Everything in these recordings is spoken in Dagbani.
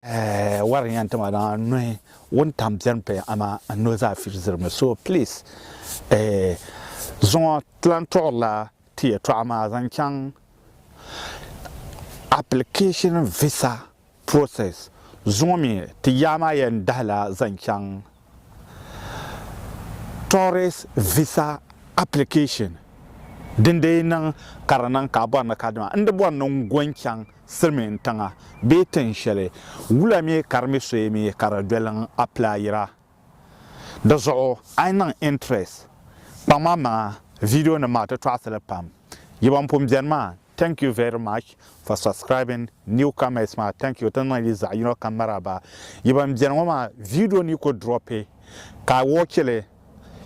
Eh wari yan tima na nuhi wuntaŋ bɛni paya amaa n nuhi zaa firi zirimi so please eh zuŋɔ ti lan tuɣirila ti yɛtɔɣa maa zaŋ chaŋ application visa process zuŋɔ mi ti yaa maa yɛn dahila zaŋ chaŋ Tourist Visa Application din dii niŋ ka di niŋ ka a bɔri ni ka dima n di bɔri ni n go n-chaŋ silimiin tiŋa bee tin shɛli wula mi ka di mi soya mi ka di doli n appilayira. Di zuɣu a yi niŋ interest kpaŋ ma maŋa video nim maa ti tɔɣisi li pam. Yi ban pun beni maa Thank you very much for subscribing new comers maa thank you ti niŋ yi zaɣi yino kam maraba yi ban beni ŋɔ maa video ni ku drop ka a watch li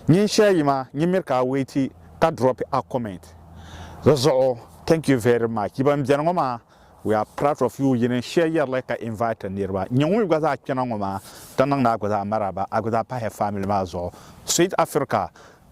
nyin shɛli yi ma nyin miri ka a wait ka drop a comment di zuɣu thank you very much yi ban beni ŋɔ maa we are proud of you yin n share yeri li ka invite niriba nyɛ ŋun mi gba zaa kpɛna ŋɔ maa ti niŋdi a gba zaa maraba a gba zaa pahi family maa zuɣu sweet Africa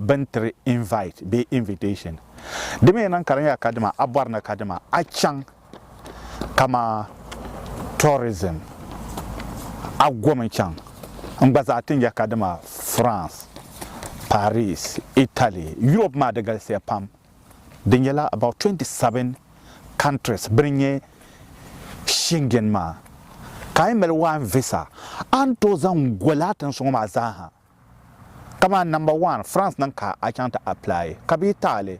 bɛn tiri invite bee invitation. Di mi niŋ ka di nyɛla kadima a bɔri ni kadima a chaŋ kaman tourism a gomi chaŋ n gba zaa ti nyɛ kadima France, Paris, Italy, Europe maa di galisiya pam di nyɛla about 27 countries bini nyɛ Schengen maa ka a yi mali one visa a ni tooi zaŋ goli a tiŋsi ŋɔ maa zaa ha. Kamani namba waan, France niŋ ka a chaŋ ti apply ka bɛ yi taɣili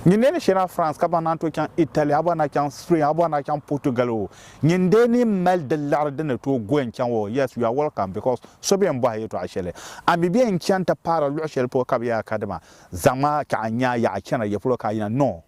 nyin dee ni shena France ka baŋ naan tooi chaŋ Italy, a bɔri ni a chaŋ Spain, a bɔri ni a chaŋ Portugal o, nyin dee ni mali di liɣiri di ni tooi gooi n chaŋ o, yes, you are welcome because so bɛ yɛn bɔhi a yɛltɔɣa sheli. A mi bɛ yɛn chani ti paara luɣi sheli polo ka bɛ yaa kadima zaŋ ma ka a nya yaɣa chana ya polo ka a yina? No!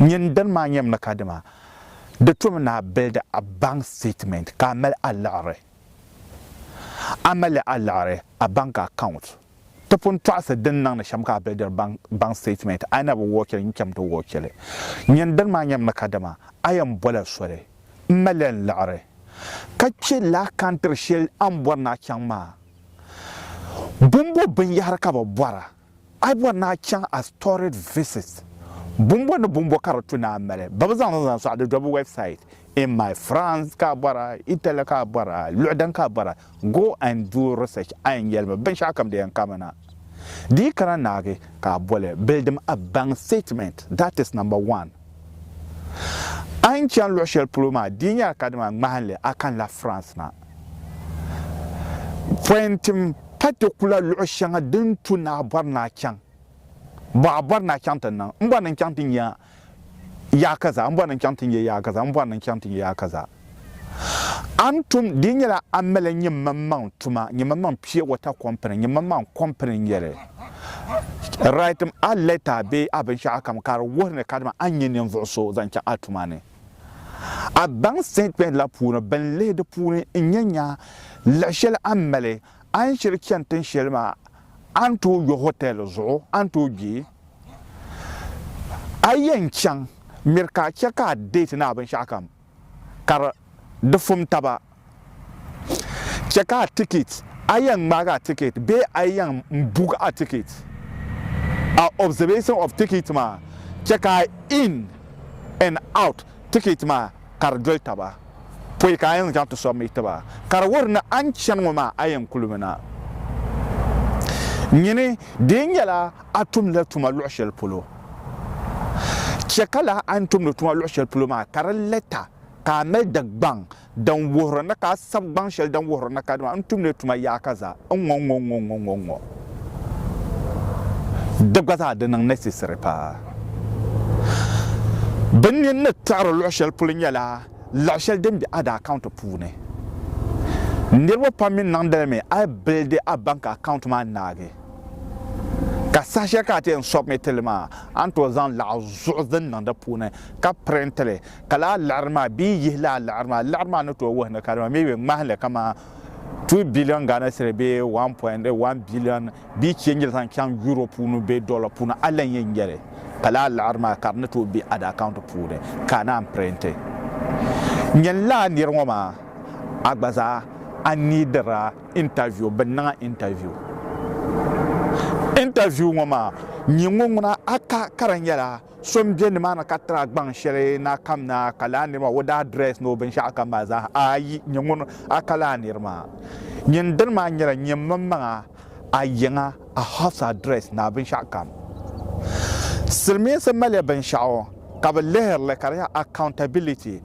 Nyin dini maa nyɛm ni kadama di tom ni a build a bank statement ka a mali a liɣiri. A mali a liɣiri, a bank account, ti pun tɔɣisi din niŋdi shɛm ka a buildiri bank statement, a yi na bi wɔchili nyin cham ti wɔchili. Nyin dini maa nyɛm ni kadama a yɛn bɔla soli m-mali n liɣiri ka chɛ laa kantiri shɛli a ni bɔri ni a chaŋ maa. Bumbu binyɛhiri ka bɛ bɔra A yi bɔri ni a chaŋ a storied visit, bumbo ni bumbo ka di tu ni a mali ba bi zaŋ zaŋ sɔɣi di dɔbu website in my France ka a bɔri a, Italy ka a bɔri a, luɣi din ka a bɔri a, go and do research a yɛn yɛli mi binshɛɣu kam di yɛn kami na. Di yi kana naagi ka a boli bilidim a bank statement that is number one. A yi ni chani luɣi shɛli polo maa di yi nyɛla kadama ŋmahinli a kanila France na. Pɔin tim pa ti kula luɣi shɛŋa din tu naa bɔri naa chaŋ bɔ a bɔri naa chaŋ ti niŋ m bɔri ni n chaŋ ti nya yaa kaza m bɔri ni n chaŋ ti nya yaa kaza m bɔri ni n chaŋ ti nya yaa kaza a ni tum di nyɛla a mali nyimaŋmaŋ tuma nyimaŋmaŋ pure water company nyimaŋmaŋ company n nyɛli write a letter bee a binshɛɣu kam ka di wuhi ni kadama a nyɛ ninvuɣu so zaŋ chaŋ a tuma ni. A baŋ sitɛtimɛnti la puuni bini lihi di puuni n-nyɛ nya liɣi shɛli a ni mali a ni shiri chani tin shɛli maa a ni tooi yo hotɛli zuɣu a ni tooi kpe. A yɛn chaŋ miri ka a chɛ ka a deeti ni a binshɛɣukam ka di fum taba. Chɛ ka a tikit, a yɛn ŋmaag a tikit bee a yɛn bug a tikit. A observation of tikit maa chɛ ka a in and out tikit maa ka di doli taba pɔi ka a yɛn zaŋ ti submit ti ba. Ka di wuhiri ni a ni chani ŋɔ maa a yɛn kuli mi na. Nyini, di yi nyɛla a tumdila tuma luɣ shɛli polo, chɛ ka lala a ni tumdi tuma luɣ shɛli polo maa ka di lɛta ka a mali Dagbaŋ Din wuhiri ni ka a sab gbaŋ shɛli din wuhiri ni kadama n tumdi tuma yaaka zaa n-ŋɔ ŋɔ ŋɔ ŋɔ ŋɔ ŋɔ. Di gba zaa di niŋ necessary paa. Bɛ nini ni kpɛɣiri luɣ shɛli polo nyɛla laɣ shɛli din be a account puuni. Niriba pam mi niŋdi li mi a build a bank account maa naagi ka saha shɛli ka a ti yɛn submit li maa a ni tooi zaŋ laɣ zuɣu din niŋ di puuni ka print li Ka laa liɣiri maa bee yihi laa liɣiri maa, liɣiri maa ni tooi wuhi ni ka dama mi bɛ ŋmahi li kamani two billion Ghana cedi bee one point one billion bee change la zaŋ chaŋ Euro puuni bee dollar puuni a lan yɛn nyɛli ka laa liɣiri maa ka di ni tooi be ada account puuni ka a naan pirinti nyini laa niri ŋɔ maa a gba zaa a niidira interview bɛ niŋ a interview interview ŋɔ maa nyini ŋɔ ŋuna a ka ka di nyɛla So m-be nimaani ka tiri a gbaŋ shɛli na kam na, ka lahi niri maa o daa dress ni o binshɛɣu kam maa zaa ha. Ayi, nyɛ ŋun a ka lahi niri maa. Nyin dini maa nyɛla nyɛ mmin maŋa, a yiŋa, a house address ni a binshɛɣu kam. Silimiinsi maliya binshɛɣu ka bɛ lihiri li ka di nyɛ accountability.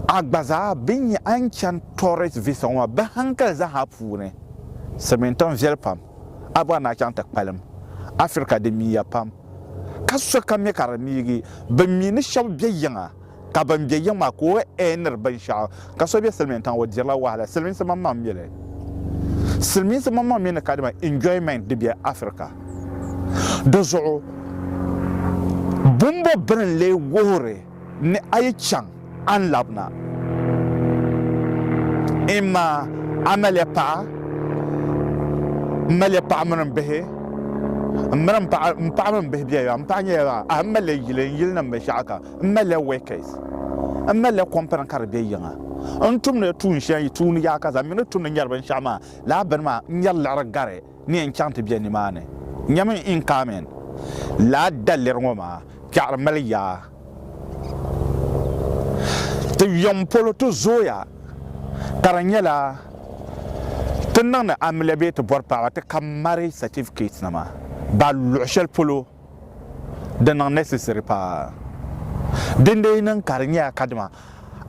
A gba zaa bɛ nya a ni chani tourist visa ŋɔ maa bɛ hankali zaa ha puuni. Silimiin tiŋ viɛli pam. A gba ni a chaŋ ti kpalim. Africa di miya pam. Ka so ka mi ka di niigi, bɛ mi ni shɛba be yiŋa, ka bɛn be yiŋ maa ka o ɛɛniri binshɛɣu. Ka so be silimiin tiŋa, o dirila wahala. Silimiinsi maŋmaŋ mi li. Silimiinsi maŋmaŋ mi ni ka dima enjoyment di be Africa. Di zuɣu bɔmbɔ bini n-lee wuhiri. Ni a yi chaŋ a ni labina, n ma, a maliya paɣa, m maliya paɣa mini m bihi, m mini m paɣa m paɣa mini m bihi bela yaɣa, m paɣa nyɛla yaɣa, ahi m maliya yili n yilinim binshɛɣu kam, m maliya workers, m maliya kɔmpini ka di be yiŋa, n tumdila tuun shɛli yi tuuni yaɣa ka zaŋ mi ni tumdi nyari binshɛɣu maa lala bini maa, n nyari liɣiri gari. N yɛn chaŋ ti bɛ nimaani. Nyami in Carmen, laa daliri ŋɔ maa kpɛɣiri mali yaa. Ti yuŋ polo ti zooya ka di nyɛla ti niŋdi amiliya bee ti bɔri paɣaba ti ka marriage certificate nima ba luɣi shɛli polo di niŋ necessary paa. Dindee yi niŋ ka di nyɛla kadama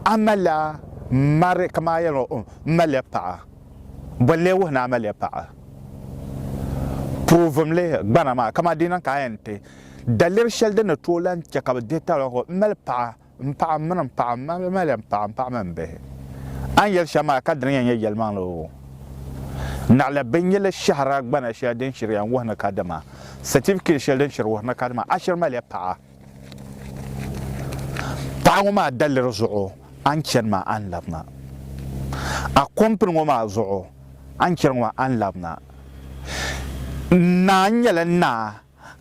a mali la marriage kaman a yɛli ŋɔ, m mali la paɣa. Bolli wuhi ni amiliya paɣa puuvumli gbana maa, kaman di niŋ ka a yɛn ti daliri shɛli din ni tooi lan chɛ ka bɛ dihi talɔgu, M mali paɣa, m paɣa, m mini m paɣa, m amiliya m paɣa, m paɣa mini m bihi. A ni yɛli shɛm maa ka di ni yɛn nyɛ yɛlimaŋli oo, naɣila binnyili shɛhira gbana shɛli din shiriya n-wuhi ni kadama, satifiketi shɛli din shiri wuhi ni kadama a shiri maliya paɣa. Paɣa ŋɔ maa daliri zuɣu a ni chani maa a ni labi na. A kɔmpini ŋɔ maa zuɣu a ni chani ŋɔ maa a ni labi na. Naa nyɛla naa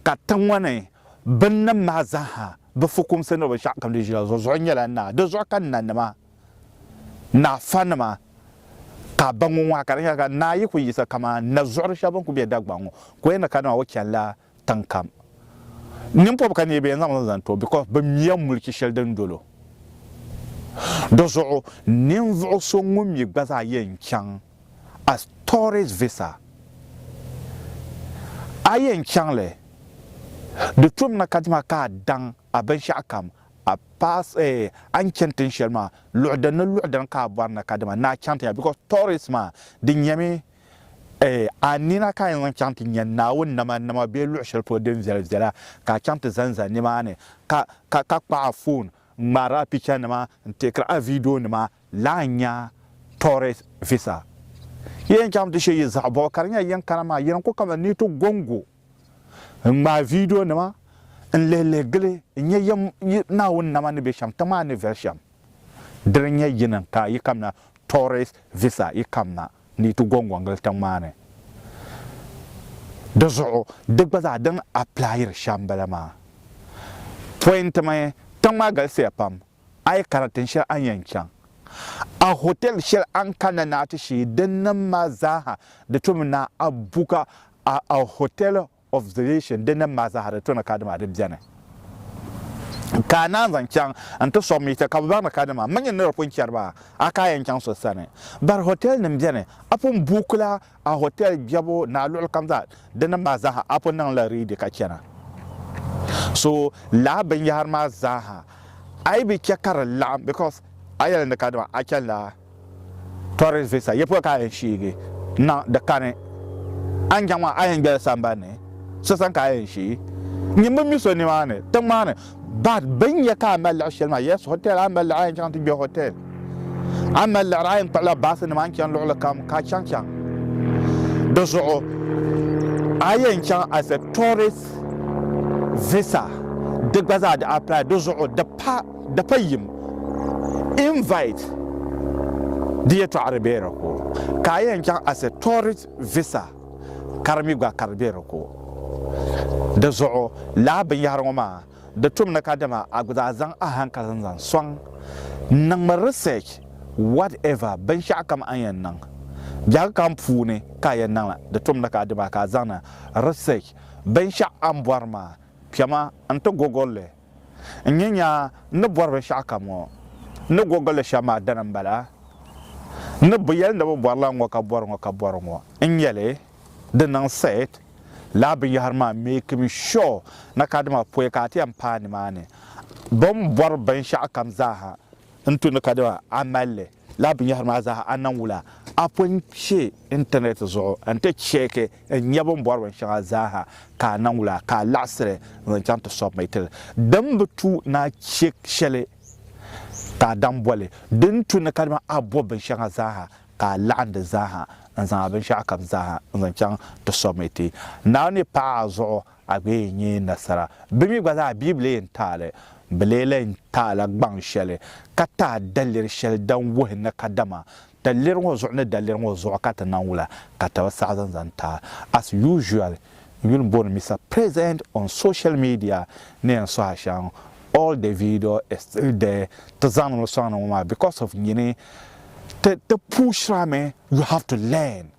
ka tiŋ ŋɔ ni binnim maa zaaha bɛ fukumsi ni binshɛɣu kam di ʒila zuɣu zuɣu nyɛla naa. Di zuɣu ka nanima, naafanima ka a ba ŋɔ ŋɔ ha ka di nyɛla ka naa yi kuli yiɣisi kaman nazuɣuri shɛba bɛn kuli be Dagbaŋ ŋɔ ka o yɛn ni kana maa o chanila tiŋ kam. Nimpɔb ka neebi yɛn zaŋli zaŋ ti o because bɛ miya muliki shɛli din dol o. Di zuɣu ninvuɣu so ŋun mi gba zaa yɛn chaŋ as tourist visa, a yɛn chaŋ li, di tumina kadama ka a daŋ a binshɛɣu kam, a pass eh, a ni chani tin shɛli maa, luɣi din ni luɣi dini ka a bɔri ni kadama ni a chaŋ ti nya because tourist maa di nyɛmi Ee, a nina ka a yɛn zaŋ chaŋ ti nya Naawuni namanama bee luɣ shɛli polo din viɛli viɛla, ka a chaŋ ti zanza nimaani, ka, ka, ka kpuɣi a foon ŋmaari a pichanima n-teekiri a viidionima lahi nya tourist visa. Yi yɛn chaŋ ti she yi zaɣ bɔbu ka di nyɛla yɛn kana maa, yi ni ku kaman ni yi ti gɔŋgo n-ŋmaai viidionima n-lihilihi gili n-nya yɛm yi Naawuni nama ni be shɛm, tiŋ maa ni viɛli shɛm. Diri nyɛ yini ka yi kamina tourist visa yi kamina ni yi ti gongongili tiŋ maa ni. Di zuɣu di gba zaa din applyiri shɛm n bala maa. Point mi tiŋ maa galisiya pam a yi kana tin shɛli a ni yɛn chaŋ a hotel shɛli a ni kanna ni a ti shee din nim maa zaa ha di tomi ni a buka a hotel of the nation din ni mali zahiri tɔni kadima di beni ka a naan zaŋ chaŋ n-ti sɔŋ mi ti ka bɛ baŋ ni kadima mini nir pun chɛri ba a ka a yɛn chaŋ so sani. Bari hotɛlnim beni a pun buukila a hotɛl biɛbu ni a luɣilikam zaa din ni mali zaaha a pun niŋla riidi ka chana. So lala binyɛhiri maa zaaha a yi bi chɛ ka di laɣim because a yɛli ni kadima a chanila. Tourist visa yɛpɔya ka a yɛn shiigi na di kani a ni chaŋ maa a yɛn gbɛli sambani ni so sani ka a yɛn shii nyin bi mi so nimaani tiŋ maa ni but bini yɛ ka a mali liɣi shɛli maa yes hotel a ni mali liɣi a yɛn chaŋ ti gbɛ hotel a ni mali liɣiri a yɛn kpuɣila baasi nima a ni chani luɣuli kam ka a chaŋ chaŋ di zuɣu a yɛn chaŋ as a tourist visa di gba zaa di apply di zuɣu di pa Dapa yim, invite, di yɛtɔɣa di be di ku. Ka a yɛn chaŋ as a tourist visa ka di mi gba ka di be di ku. Di zuɣu lala binyɛhiri ŋɔ maa di tum ni ka dama a gba zaa zaŋ a hankali zaŋ zaŋ sɔŋ n niŋmi research whatever binshɛɣu kam a ni yɛn niŋ biɛhigu kam puuni ka a yɛn niŋ la di tum ni ka dama ka a zaŋdi research binshɛɣu a ni bɔri maa kpɛma n ti gogolli N ni nya n ni bɔri binshɛɣu kam ŋɔ, n ni gogil li shɛm maa dini m-bala, n ni bi yɛli ni bɛ bɔri lan ŋɔ ka bɔri ŋɔ ka bɔri ŋɔ n-nyɛ li, di niŋ set lala binyɛhiri maa making sure ni ka dima pɔi ka a ti yɛn paai nimaani. Bɛ ni bɔri binshɛɣu kam zaa ha n-tu ni ka dima a mali li. Lala binyɛhiri maa zaa a niŋ wula? A pun kpe Intanɛt zuɣu nti cheeki n-nya bɛ ni bɔri binshɛŋa zaa ha ka a niŋ wula ka a laɣisiri n-zaŋ chaŋ ti submit li? Din bi tu ni a che shɛli ka a daŋ boli, din tu ni kadama a bɔbi binshɛŋa zaa ha ka a laɣim di zaa ha n-zaŋ a binshɛɣukam zaa ha n-zaŋ chaŋ ti submit. Naawuni ni paɣi a zuɣu A gba yɛn nyɛ nasara. Bɛ mi gba zaa Biblia yɛn taai li. Bɛ lee lan taila gbaŋ shɛli ka taai daliri shɛli din wuhi ni kadama daliri ŋɔ zuɣu ni daliri ŋɔ zuɣu ka ti naŋ wula ka ti bi saɣi zaŋ zaŋ taai. As usual, n yuli bɔri Mister President on social media ni yɛn sohi a shɛm, all the video is still there, ti zaŋdimi sɔŋdi ŋɔ maa because of nyini ti ti puushirami, you have to learn.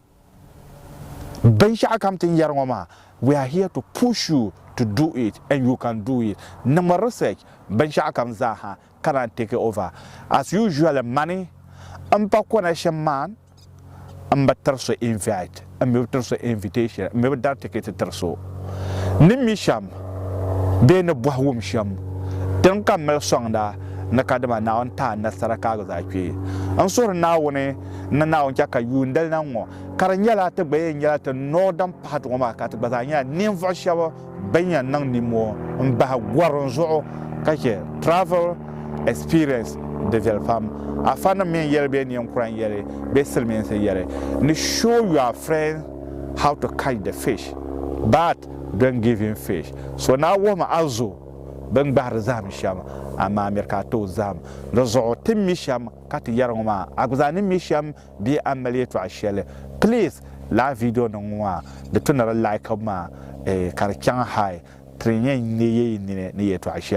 Binshɛɣu kam ti ni yɛri ŋɔ maa, we are here to push you to do it and you can do it. Niŋmi research binshɛɣu kam zaa ha ka naan take over. As usually mani m pa connection man, m bi tiri so invite, m mi bi tiri so invitation, m mi bi dari ticket tiri so. Ni mi shɛm bee ni bɔhi wum shɛm din ka mali sɔŋda ni ka dima Naawuni ti a nasara ka a gba zaa kpe. N suhiri Naawuni N ni Naawuni chɛ ka yuundali na ŋ-ŋɔ, ka di nyɛla ti gba yɛn nyɛla ti nɔɔ din pahiti ŋɔ maa, ka ti gba zaa nyɛla ninvuɣ shɛb bɛn yɛn niŋ nimmoo m-bahi gɔrim zuɣu ka chɛ travel experience di viɛli pam. Afanim mi n-yɛli bɛ neen kura n-yɛli bɛ silimiinsi yɛli ni show your friends how to catch the fish but don't give him fish. So naa wuhimi a zo bɛ ni gbahiri zahim shɛm, amaa miri ka a tooi zahim di zuɣu ti mi shɛm. ka ti yɛri ŋɔ maa a gba zaa ni mi shɛm bee a ni mali yɛtɔɣ shɛli please lala viidionima ŋɔ maa di ti ni di laikib maa ka di chaŋ hali ti ni yɛn neei yi nini ni yɛtɔɣ shɛli.